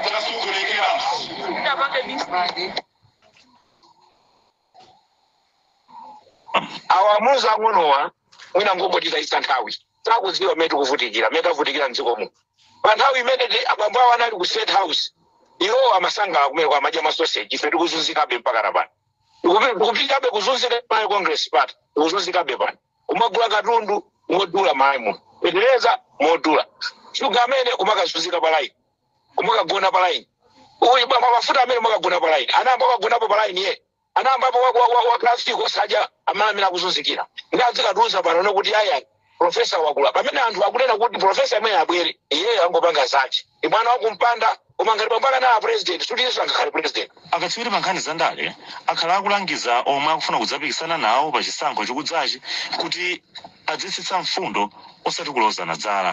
Ndasukurekera. Ndapanga mistake. awawuze ang'onowa mwina angotitayitsa nthawi sakudziwa mmene tikuvutikira mmene tavutikira mdziko muno pa nthawi imene ti- abambo awo anali ku state house iwo amasangala kumene kwa amadya masoseji ife tikuzunzikabe mpaka na pano Tikupi- tikupitabe kuzunzika pa congress party tikuzunzikabe pano kumagula katundu modula malaimu feteleza modula shuga amene kumakazunzika palaini kumakagona palaini uyu bwa- mwa mafuta amene mwakagona palaini anayamba akagonapo palaini ye anayambapo waklasi kosadya amene amene akuzunzikira ndi adzikatiuza pano ne kuti ayi profesa wakula pamene anthu akunena kuti profesa amene abwere iyeyo angopanga zake ndi mwana wa kumpanda koma ngati bambo ake anali president sikuti iyenso angakhale president akatswiri pa nkhani za ndale akhala akulangiza omwe akufuna kudzapikisana nawo pa chisankho chikudzachi kuti adzitsitsa mfundo osati kulozana dzala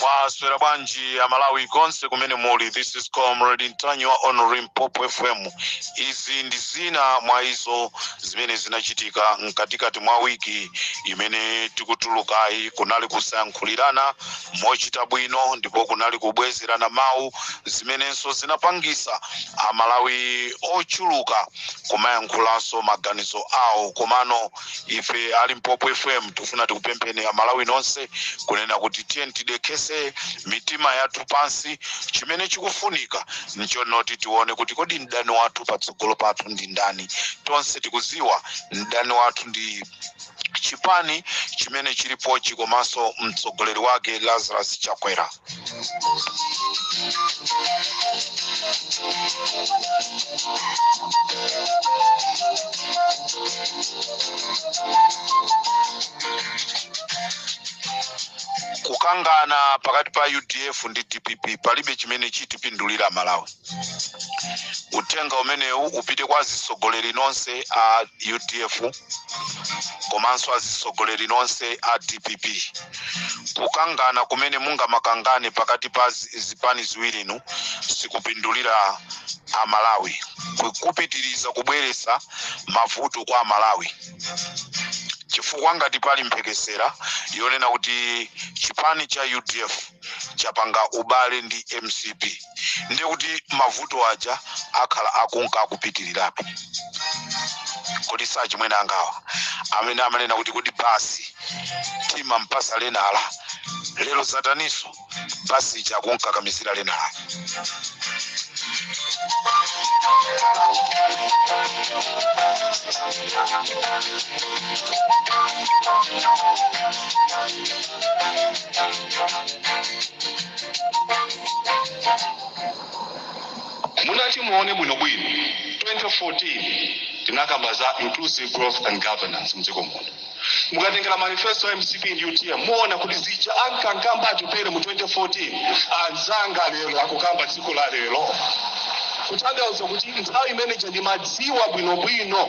mwaswera bwanji amalawi konse kumene muli this is comrade ntanyiwa on limpopo fm izi ndi zina mwa izo zimene zinachitika mkatikati mwa wiki imene tikutulukayi kunali kusayankhulirana mochita bwino ndipo kunali kubwezerana mawu zimenenso zinapangisa amalawi ochuluka kumayankhulaso maganizo awo komano ife a limpopo fm tifuna tikupempheni amalawi nonse kunena kuti tiyeni tidekhese mitima yathu pansi chimene chikufunika nchonoti tione kuti kodi mdani wathu patsogolo pathu ndi ndani tonse tikuziwa mdani wathu ndi chipani chimene chilipochi komanso mtsogoleri wake lazarus chakwera kukangana pakati pa udf ndi dpp palibe chimene chitipindulira malawi uthenga umenewu upite kwa azitsogoleri nonse a udf komanso azitsogoleri nonse a dpp kukangana kumene mungamakangane pakati pa zi- zipani ziwirinu sikupindulira amalawi Ku- kupitiriza kubweretsa mavuto kwa amalawi chifukwa ngati pali mphekesera yonena kuti chipani cha udf chapanga ubale ndi mcp ndiye kuti mavuto aja akhala akunka akupitirirabe kodi si achimwene angawa amene amanena kuti kodi basi timampatsa lenala lero zataniso basi ija akunkakamizira lenala Mutatimuone bwinobwino 2014 tinakamba za Inclusive Growth and Governance mdziko muno. Mukatengera manifesto ya mcp ndi utm muona kuti zija ankakamba Atupele mu 2014 anzanga lero akukamba dziko la lero. Kutanthauza kuti nthawi imeneija ndimadziwa bwinobwino.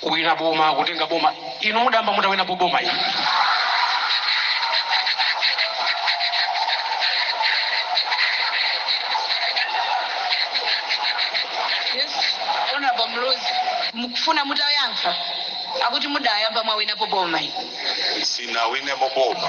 Kuwina boma kutenga boma inu mudayamba mutawinapo boma inu? Yes Hon Muluzi mukufuna mutayankha akuti mudayamba mwawinapo boma inu? Sinawinepo boma.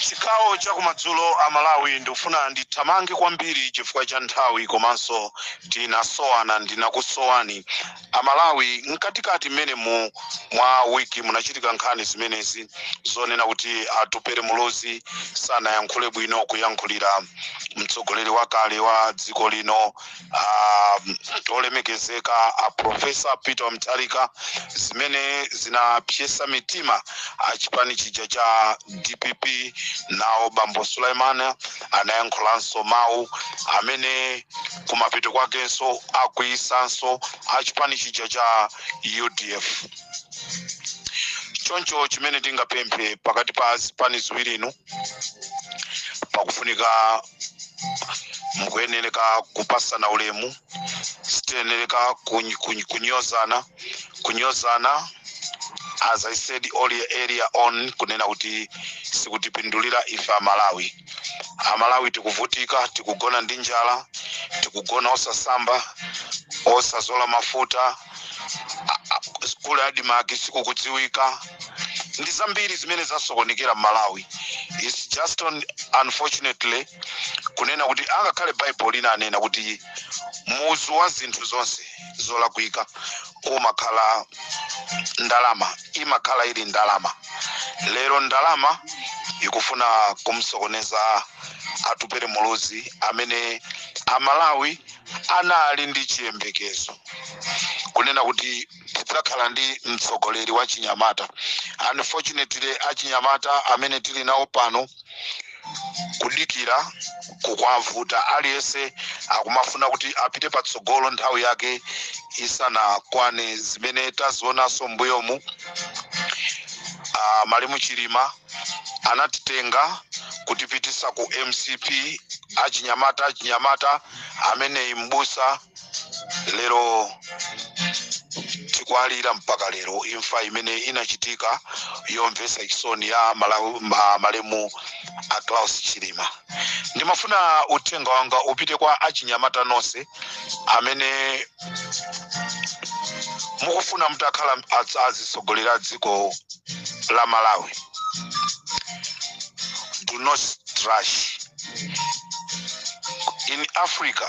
chigawo cha kumadzulo a malawi ndikufuna ndithamange kwambiri chifukwa cha nthawi komanso tinasowana ndinakusowani amalawi mkatikati mmenemu mwa wiki munachitika nkhani zimenezi zonena kuti atupele muluzi sanayankhule bwino kuyankhulira mtsogoleri wakale wa dziko lino ah, olemekezeka a profesa peter mutharika zimene zinapsetsa mitima achipani chija cha dpp nawo bambo suleman anayankhulanso mawu amene kumapeto kwakenso akwiyitsanso a chipani chija cha udf choncho chimene tingapemphe pakati pa zipani ziwiri inu pakufunika mukuyenereka kupatsana ulemu sitiyenereka kuny- kuny- kunyozana kunyozana as i said earlier earlier on kunena kuti sikutipindulira ife amalawi amalawi tikuvutika tikugona ndi njala tikugona osasamba osazola mafuta ku admarc sikukudziwika ndi zambiri zimene zasokonekera mmalawi its just unfortunately kunena kuti angakhale baibulo linanena kuti muzu wa zinthu zonse zolakwika kumakhala ndalama imakhala ili ndalama lero ndalama ikufuna kumsokoneza atupere muluzi amene amalawi anali ndi chiyembekezo kunena kuti tidzakhala ndi mtsogoleri wa chinyamata unfortunately achinyamata amene tili nawo pano kudikira kukwavuta aliyense akumafuna kuti apite patsogolo nthawi yake isanakwane zimene tazionanso mbuyomu uh, malemu chilima anatitenga kutipitisa ku mcp achinyamata achinyamata ameneyi ndi mbusa lero tikuwalira mpaka lero imfa imene inachitika yomvetsa chisoni ya malemu a Klaus Chilima ndimafuna uthenga wanga upite kwa achinyamata nonse amene mukufuna mutakhala azitsogoleri a dziko la Malawi do not rush in Africa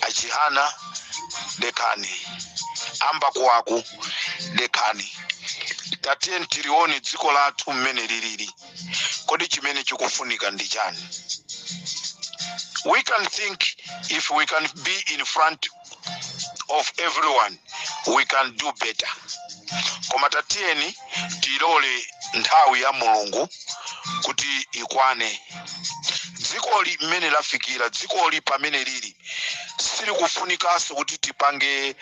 achihana dekhani a mbakuwaku dekhani tatiyeni tilione dziko lathu mmene lilili kodi chimene chikufunika ndi chani we can think if we can be in front of everyone we can do better koma tatiyeni tilole nthawi ya mulungu kuti ikwane dzikoli mmene lafikira dzikoli pamene lili silikufunikanso kuti tipange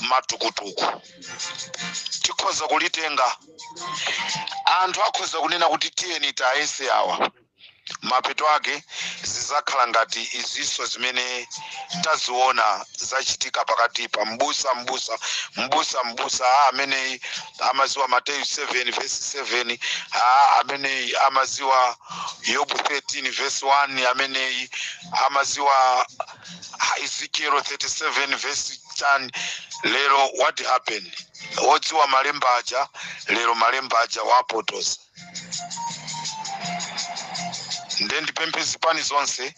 matukutuku tikhoza kulitenga anthu akhoza kunena kuti tiyeni tayese awa mapeto ake zizakhala ngati izinso zimene taziona zachitika pakatipa mbusa mbusa mbusa mbusa a ameneyi amaziwa mateyu 7 vesi 7 a ameneyi amaziwa yobu 13 vesi 1 ameneyi amaziwa ezekiel 37 vesi 10 lero what happened odziwa malemba aja lero malemba aja awapotoza nde ndipemphe zipani zonse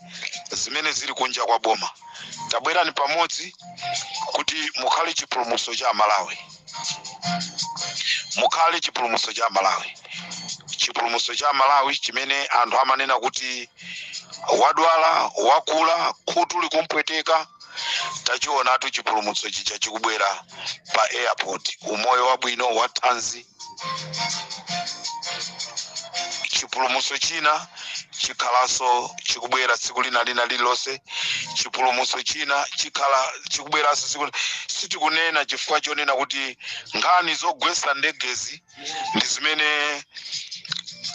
zimene zili kunja kwa boma tabwerani pamodzi kuti mukhale chipulumutso cha amalawi mukhale chipulumutso cha amalawi chipulumutso cha amalawi chimene anthu amanena kuti wadwala wakula khutu likumpweteka tachionatu chipulumutso chija chikubwera pa airport umoyo wabwino wathanzi chipulumutso china chikhalanso chikubwera tsiku lina lina lililonse chipulumutso china chikhala chikubweranso tsiku li- sitikunena chifukwa chonena kuti nkhani zogwetsa ndegezi ndi zimene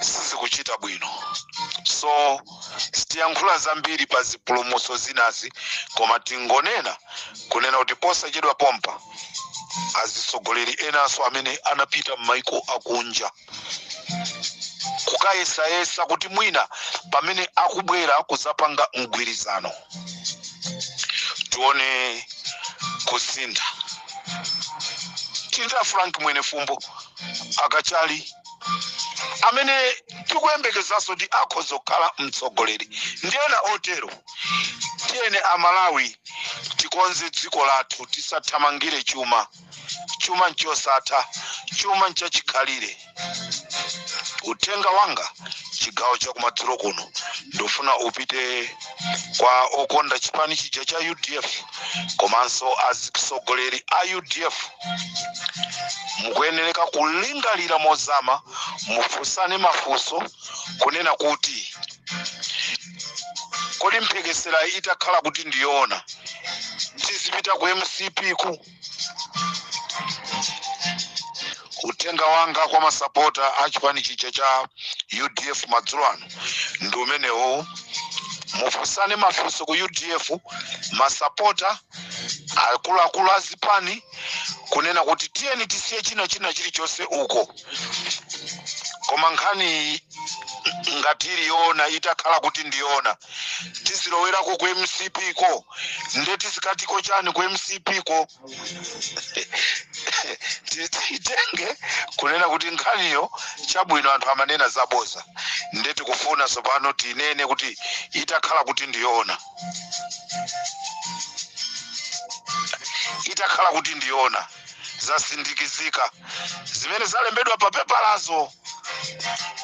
sizikuchita bwino so sitiyankhula zambiri pa zipulumutso zinazi koma tingonena kunena kuti posachedwa pompa azitsogoleri enanso amene anapita m'maiko akunja kukayesayesa kuti mwina pamene akubwera kudzapanga mgwirizano tione kusintha tinda frank mwenefumbo a kachali amene tikuyembekezanso kuti akhoza kukhala mtsogoleri ndi ena otero tiyeni amalawi tikonze dziko lathu tisathamangire chuma chuma nchosatha chuma nchachikhalire uthenga wanga chigawo chakumadzulo kuno ndifuna upite kwa okonda chipani chija cha udf komanso atsogoleri a udf mukuyenereka kulingalira mozama mufunsane mafunso kunena kuti kodi mphekesera itakhala kuti ndiyoona tizipita ku mcp ku uthenga wanga kwa masapota a chipani chija cha udf madzulo ano ndi umenewo mufunsane mafunso ku udf masapota akuluakulu a zipani kunena kuti tiyeni tisiye china china chilichonse uko koma nkhani ngati ili yoona itakhala kuti ndiyoona tizilowerako ku mcp ko nde tizikatiko chani ku mcp ko Ti- tiyitenge kunena kuti nkhaniyo chabwino anthu amanena zaboza nde tikufuna tsopano tinene kuti itakhala kuti ndiyoona itakhala kuti ndiyoona zasindikizika zimene zalembedwa pa pepalazo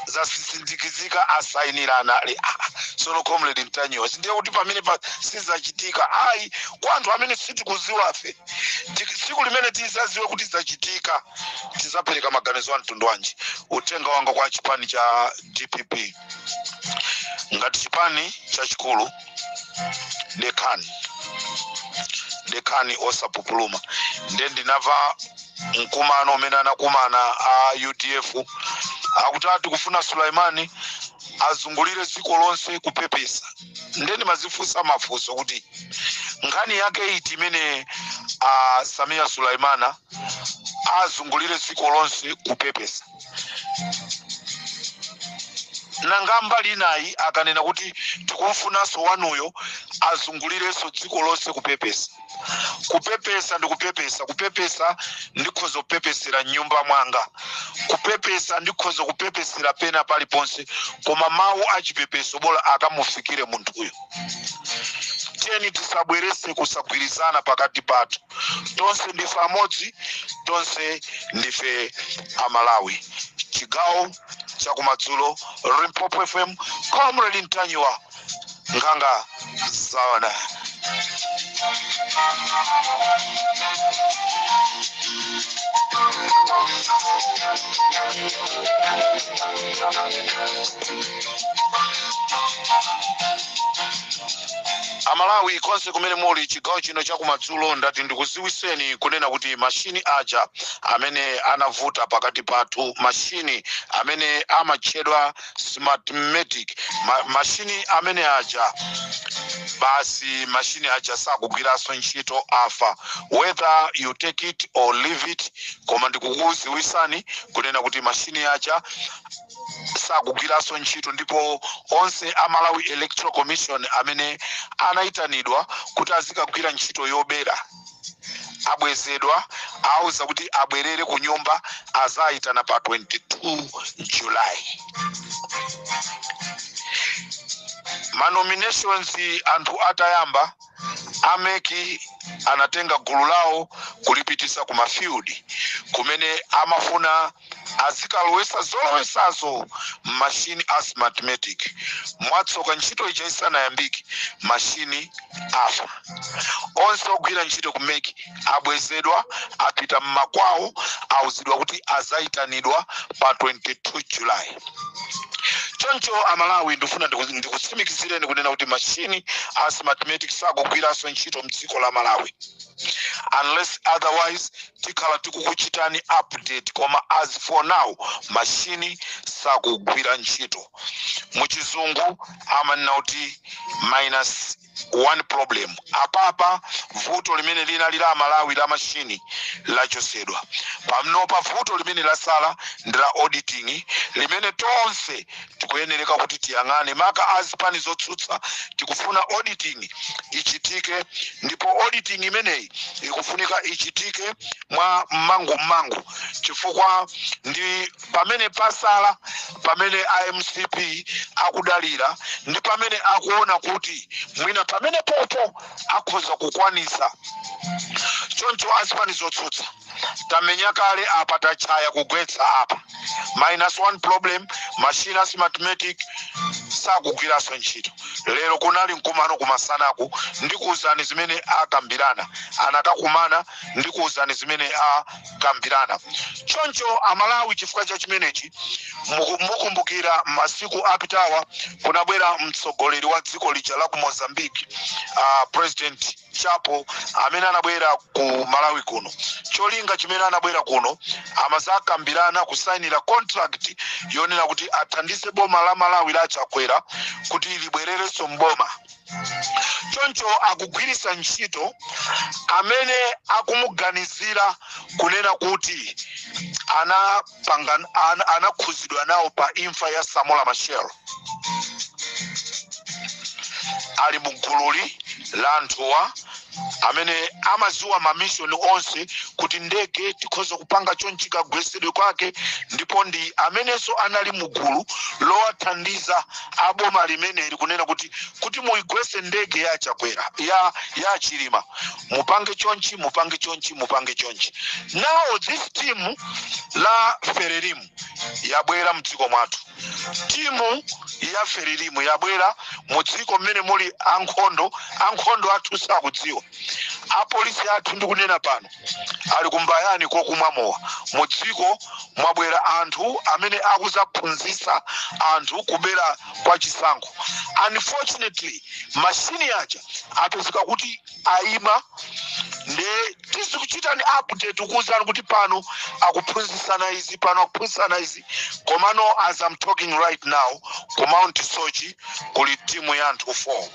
zasindikizika asayinirana ali ah, ah, sono comrade mtanyiwa sindiye kuti pamenepa sizachitika ayi kwa anthu amene sitikuziwafe Ti- tsiku limene tizaziwe kuti zachitika tizapereka maganizo a mtundu wanji uthenga wanga kwa chipani cha dpp ngati chipani chachikulu dekhani dekhani osapupuluma nde ndinava mkumano umene anakumana a udf akuti ati tikufuna sulaimani azungulire dziko lonse kupepesa nde ndimazifunsa mafunso kuti nkhani yake iti imene a samiya sulaimana azungulire dziko lonse kupepesa nanga mbali inayi akanena kuti tikumfunanso wanuyo azungulirenso dziko lonse kupepesa kupepesa ndi kupepesa kupepesa ndikhoza kupepesera mnyumba mwanga kupepesa ndikhoza kupepesera pena paliponse koma mawu achipepeso bola akamufikire munthuyo tiyeni tisabwerese kusagwirizana pakati pathu tonse ndife amodzi tonse ndife amalawi chigawo chakumadzulo limpopo fm comrade ntanyiwa nkhanga zaona amalawi konse kumene muli chigawo chino chakumadzulo ndati ndikuziwiseni kunena kuti mashini aja amene anavuta pakati pathu mashini amene amatchedwa smartmatic mashini amene aja basi mashini aja sakugwiranso ntchito afa whether you take it or leave it koma ndikukuziwisani kunena kuti mashini aja sakugwiranso ntchito ndipo onse a malawi electoral commission amene anayitanidwa kuti azikagwira ntchito yobera abwezedwa auza kuti abwerere ku nyumba azayitana pa 22 july manominations anthu atayamba ameki anatenga gulu lawo kulipitisa ku mafield kumene amafuna azikalowesa zolowesazo machine a smartmatic mwatsoka ntchito ija isanayambike machine afa onse ogwira ntchito ku mec abwezedwa apita mmakwawo auzidwa kuti azayitanidwa pa 22 july choncho amalawi ndifuna ndikutsimikizireni kunena kuti machine a smartmatic sakugwiranso ntchito mdziko la malawi unless otherwise tikhala tikukuchitani update koma as for now machine sakugwira ntchito muchizungu amanena kuti minus one problem apapa vuto limene linali la amalawi la mashini lachosedwa pamnopa vuto limene lasala ndi la auditing limene tonse tikuyenereka kuti tiyang'ane maka a zipani zotsutsa tikufuna auditing ichitike ndipo auditing imeneyi ikufunika ichitike mwa mmangu mmangu chifukwa ndi pamene pasala pamene a mcp akudalira ndi pamene akuona kuti mwina pamene popo akhoza kukwanisa choncho azipani zotsutsa tamenya kale apa tachaya kugwetsa apa minus one problem machine a smartmatic sakugwiranso ntchito lero kunali mkumano kumasanaku ndikuwuzani zimene akambirana anakakumana ndikuwuzani zimene akambirana choncho amalawi chifukwa cha chimenechi muku- mukumbukira masiku apitawa kunabwera mtsogoleri wa dziko lija la ku mozambique uh, president chapo amene anabwera ku malawi kuno cholinga chimene anabwera kuno amazakambirana kusainira contract yonena kuti athandize boma la malawi la chakwera kuti libwererenso mboma choncho akugwiritsa ntchito amene akumuganizira kunena kuti ana pangan- an- anakhuzidwa nawo pa imfa ya samora machel ali mu gululi la anthuwa amene amaziwa mamishoni onse kuti ndege tikhoza kupanga chonchi kagwesedwe kwake ndipo ndi amenenso anali mu gulu lowathandiza aboma limeneli kunena kuti kuti muigwese ndege ya chakwera ya ya chilima mupange chonchi mupange chonchi mupange chonchi now this timu la ferelimu yabwera mdziko mwathu timu ya ferelimu yabwera mu dziko mmene muli ankhondo ankhondo athu sakudziwa apolisi athu ndikunena pano ali kumbayani kokumwa mowa mu dziko mwabwera anthu amene akuzaphunzitsa anthu kubera kwa chisankho unfortunately mashini aja apezeka kuti aima nde tizikuchitani update kukuwuzani kuti pano akuphunzisana izi pano akuphunzisana izi komano as i'm talking right now ku mount soche kuli timu ya anthu 4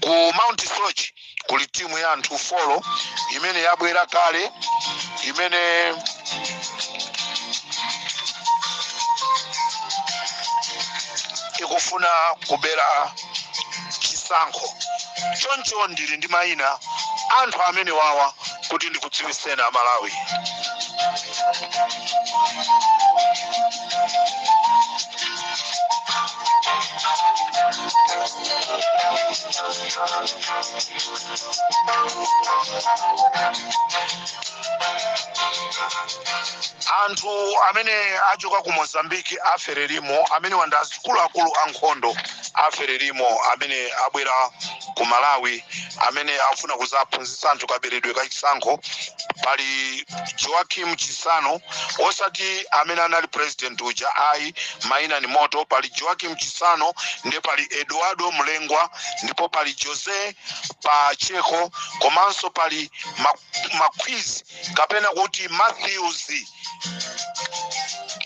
ku mount soche kuli timu ya anthu 4 imene yabwera kale imene ikufuna kubera chisankho. Choncho ndili ndi maina anthu amenewawa kuti ndikudziwiseni Amalawi. Anthu amene achoka ku Mozambique a Frelimo amenewa ndi a akuluakulu a nkhondo a frelimo amene abwera ku malawi amene afuna kuzaphunzitsa anthu kaberedwe ka chisankho pali joaquim chissano osati amene anali president uja ayi maina ni moto pali joaquim chissano ndiye pali eduardo mulembwe ndipo pali jose pacheco komanso pali ma- maquiz kapena kuti matthews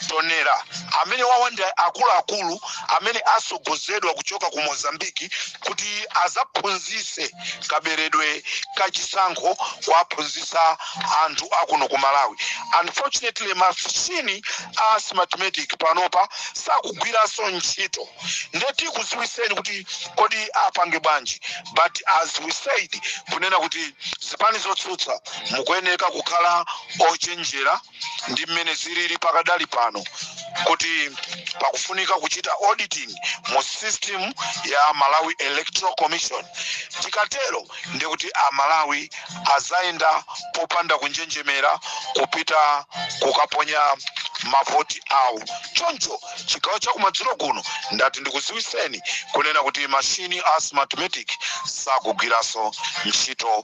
tonera amenewawa ndi akuluakulu amene asogozedwa kuchoka ku mozambiki kuti azaphunzise kaberedwe ka chisankho kuwaphunzisa anthu akuno ku malawi unfortunately mashini a smartmatic panopa sakugwiranso ntchito nde tikuziwiseni kuti kodi apange bwanji but as we said kunena kuti zipani zotsutsa mukuyeneka kukhala ochenjera ndi mmene zilili pakadali pano kuti pakufunika kuchita auditing mu system ya malawi electoral commission tikatero ndi kuti amalawi azayenda popanda kunjenjemera kupita kukaponya mavoti awo choncho chigawo cha kumadzulo kuno ndati ndikuziwiseni kunena kuti mashini a smartmatic sakugwiranso ntchito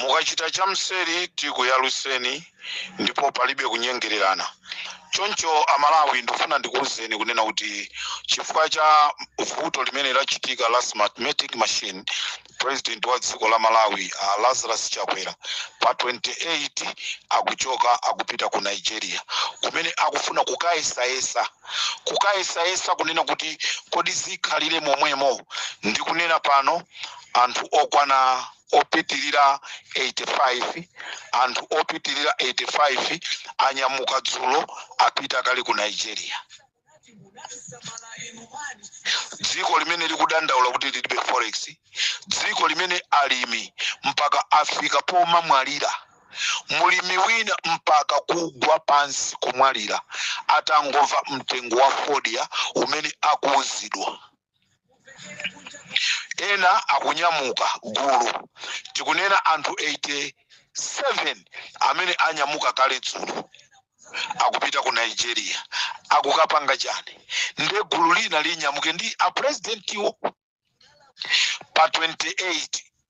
mukachita cha mseri tikuyaluseni ndipo palibe kunyengererana choncho amalawi ndifuna ndikuwuzeni kunena kuti chifukwa cha vuto limene lachitika la smartmatic machine president wa dziko la malawi lazarus chakwera pa 28 akuchoka akupita ku nigeria kumene akufuna kukayesayesa kukayesayesa kunena kuti kodi zikhalire momwemo ndikunena pano anthu okwana opitirira 85 anthu opitirira 85 anyamuka dzulo apita kale ku nigeria dziko limene likudandaula kuti lilibe forex dziko limene alimi mpaka afika pomamwalira mulimi wina mpaka kugwa pansi kumwalira atangomva mtengo wa fodya umene akuuzidwa ena akunyamuka gulu tikunena anthu 87 amene anyamuka kale dzulo akupita ku nigeria akukapanga chani nde gulu lina linyamuke ndi apurezidentiwo pa 28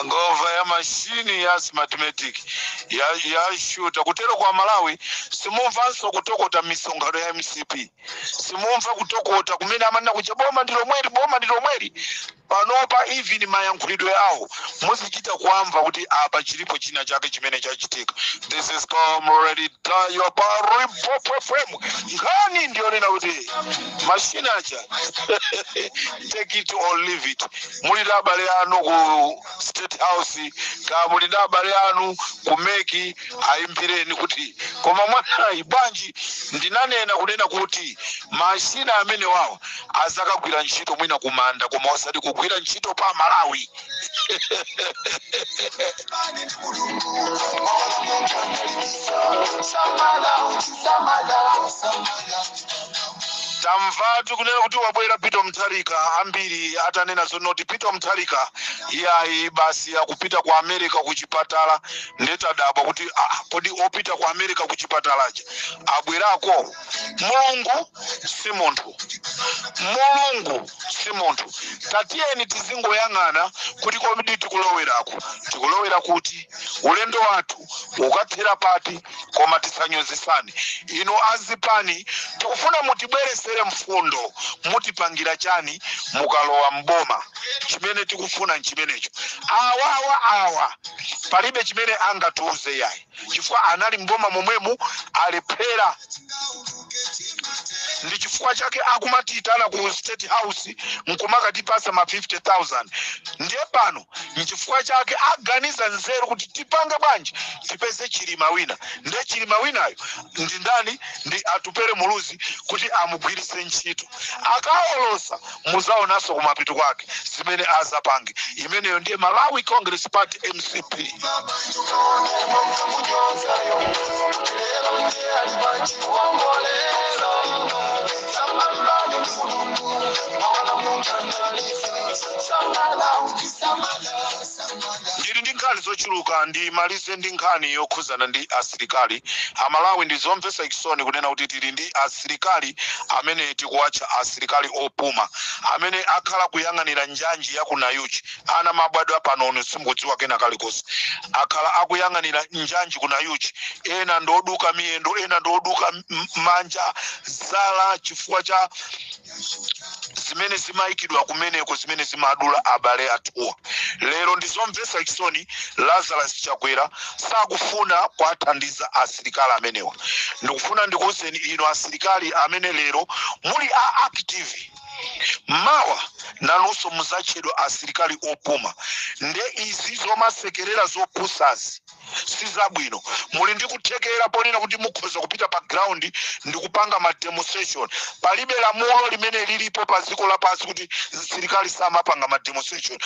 angova ya mashini ya smartmatic ya shuta kutero kwa malawi simumvanso kutokota misonkhano ya mcp simumva kutokota kumene amanena kuja boma ndi lomweli boma ndi lomweli panopa even mayankhulidwe awo muzichita kuamva kuti apa chilipo china chake chimene chachitika this is comrade ntanyiwa pa limpopo fm nkhani ndiyonena kuti mashini aja take it or leave it muli na abale anu ku state house kaya muli na abale anu ku meki ayimbireni kuti koma mwaonayi bwanji ndinanena kunena kuti mashina amenewawo azakagwira ntchito mwina kumanda koma osati kugwira ntchito pa malawi tamvatu kunena kuti wabwera peter mutharika ambiri atanena zonoti peter mutharika iyayi basi akupita ku america ku chipatala nde tadabwa kuti ah, kodi opita ku america ku chipatala aja abwerako mulungu si munthu mulungu si munthu tatiyeni tizingoyang'ana kuti komwedi tikuloweraku tikulowera kuti ulendo wathu ukathera pati koma tisanyozesane inu azipani tikufuna mutibweresere mfundo mutipangira chani mukalowa mboma chimene tikufuna nchimenecho awawa awa palibe chimene angatiuze yayi chifukwa anali mboma momwemu alephera ndi chifukwa chake akumatiitana ku state house nkumakatipasa ma 50000 ndiye pano nchifukwa chake aganiza nzeru kuti tipange bwanji tipeze chilima wina ndiye chilima winayo ndi ndani ndi atupere muluzi kuti amugwiritse ntchito akawolosa muzaonanso kumapeto kwake zimene azapange imeneyo ndiye malawi congress party mcp ndili ndi nkhani zochuluka ndimalize ndi nkhani yokhuzana ndi asilikali a malawi ndi zomvesa chisoni kunena kuti tili ndi asi asilikali amene tikuwatcha asilikali opuma amene akhala akuyang'anira njanji ya ku Nayuchi ana mwabadwa panoni simukudziwa kena kalikonse akhala akuyang'anira njanji ku Nayuchi ena ndoduka miyendo ena ndoduka manja zala chifukwa cha zimene zimayikidwa kumeneko zimene zimadula abale athuwa lero ndi zomvetsa chisoni lazarus chakwera sakufuna kuwathandiza asilikali amenewa ndikufuna ndikuwuzeni inu asilikali amene lero muli active mawa nanunso muzatchedwa asilikali opuma nde izi zomasekerera zopusazi sizabwino muli ndi kuthekera ponena kuti mukhoza kupita pa ground ndi kupanga ma demonstration palibe lamulo limene lilipo pa dziko lapansi kuti msilikali samapanga ma demonstration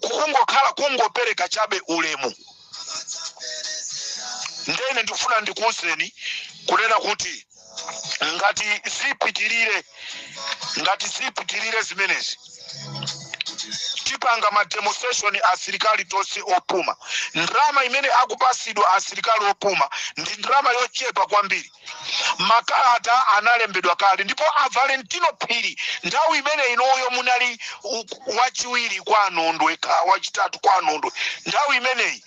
kungokhala kungopereka chabe ulemu ndene ndikufuna ndikuuzeni kunena kuti ngati zipitirire ngati zipitirire zimenezi tipanga mademonstration asilikali tonse opuma ndrama imene akupasidwa asilikali opuma ndi ndrama yochepa kwambiri makalata analembedwa kale ndipo a valentino phiri nthawi imene inuyo munali u- wachiwiri kwa a nondwe ka wachitatu kwa a nondwe nthawi imeneyi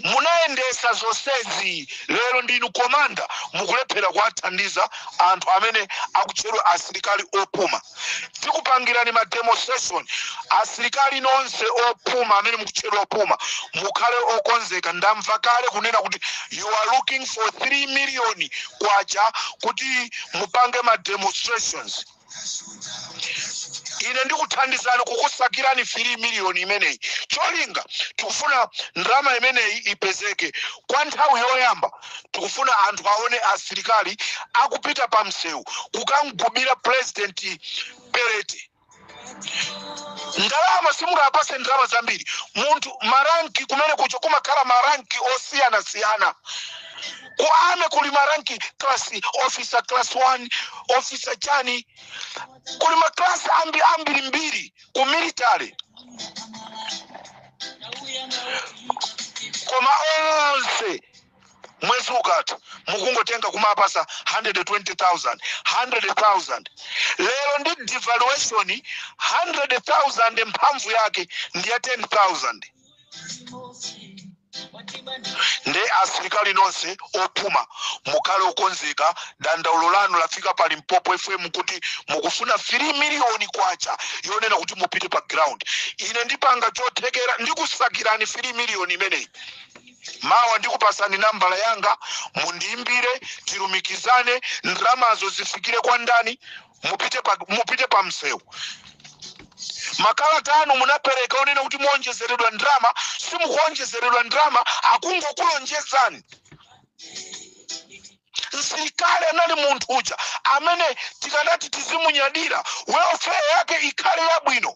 munayendesa zonsezi lero ndinu komanda mukulephera kuwathandiza anthu amene akutchedwa asilikali opuma tikupangirani ma demonstration asilikali nonse opuma amene mukutchedwa opuma mukhale okonzeka ndamva kale kunena kuti you are looking for 3 million kwacha kuti mupange ma demonstrations ine ndikuthandizani kukusakirani 3 miliyoni imeneyi cholinga tikufuna ndrama imeneyi ipezeke kwa nthawi yoyamba tikufuna anthu aone asilikali akupita pa msewu kukamgubira purezidenti pelete ndalama simungapase ndrama zambiri munthu maranki kumene kucho kumakhala maranki osiyanasiyana ku army kuli maranki class officer class 1 officer chani kuli maklasi ambirimbiri ku military koma onse mwezi ukatha mukungotenga kumapasa 120000 100000 lero ndi devaluation 100000 mphamvu yake ndi ya 10000 nde asilikali nonse opuma mukhale okonzeka dandaulo lanu lafika pa limpopo fm kuti mukufuna 3 miliyoni kwacha yonena kuti mupite pa ground ine ndipanga chothekera ndikusakirani 3 miliyoni imeneyi mawa ndikupasani nambala yanga mundiimbire tilumikizane ndramazo zifikire kwa ndani mupite pa msewu makalata anu munapereka onena kuti muonjezeredwa ndalama simukuonjezeredwa ndalama akungokulonjezani msilikali anali munthu uja amene tikanati tizimunyadira welfare yake ikhale yabwino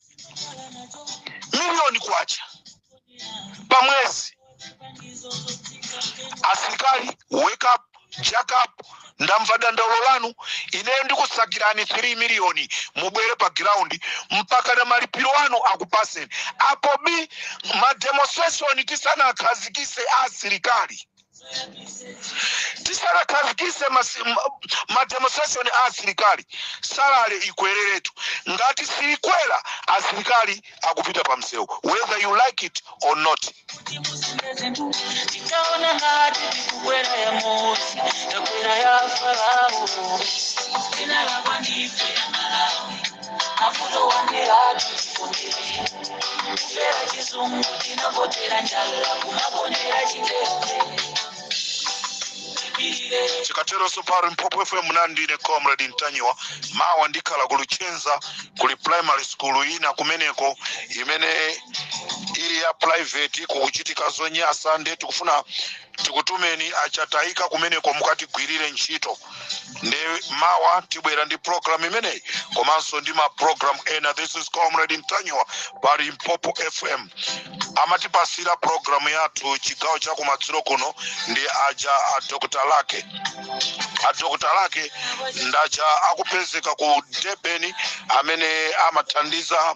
miliyoni kwacha pa mwezi asilikali wake up jack up ndamva dandaulo lanu ineyo ndikusakirani 3 miliyoni mubwere pa ground mpaka na malipiro anu akupaseni apo bi mademonstration tisanawakhazikise a asilikali tisanakhazikise mademonstration a asilikali salale ikwereretu ngati siikwera asilikali akupita pa msewu whether you like it or not tikaona ngati tikukwera ya mose takwera ya farao mavuto wanderatu tikondere kufera chizungu tinakotera njala kumakondera chitete tipirire chikatero so pa limpopo fm munali ndine comrade ntanyiwa mawa ndikhala kulichenza kuli primary school ina kumeneko imene ili ya private kukuchitika zonyasa nde tikufuna tikutumeni achatayika kumeneko mukatigwirire ntchito nde mawa tibwera ndi program imeneyi komanso ndi ma program ena this is comrade ntanyiwa pa limpopo fm amatipatsira program yathu chigawo cha kumadzulo kuno ndi aja a dr lake a dr lake ndaja akupezeka ku debeni amene amathandiza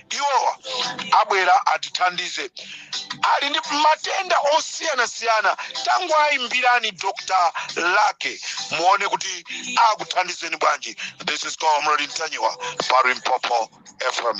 iwowa abwera atithandize ali ndi matenda osiyanasiyana tangoayimbirani dr lake muone kuti akuthandizeni bwanji this is comrade ntanyiwa pa limpopo fm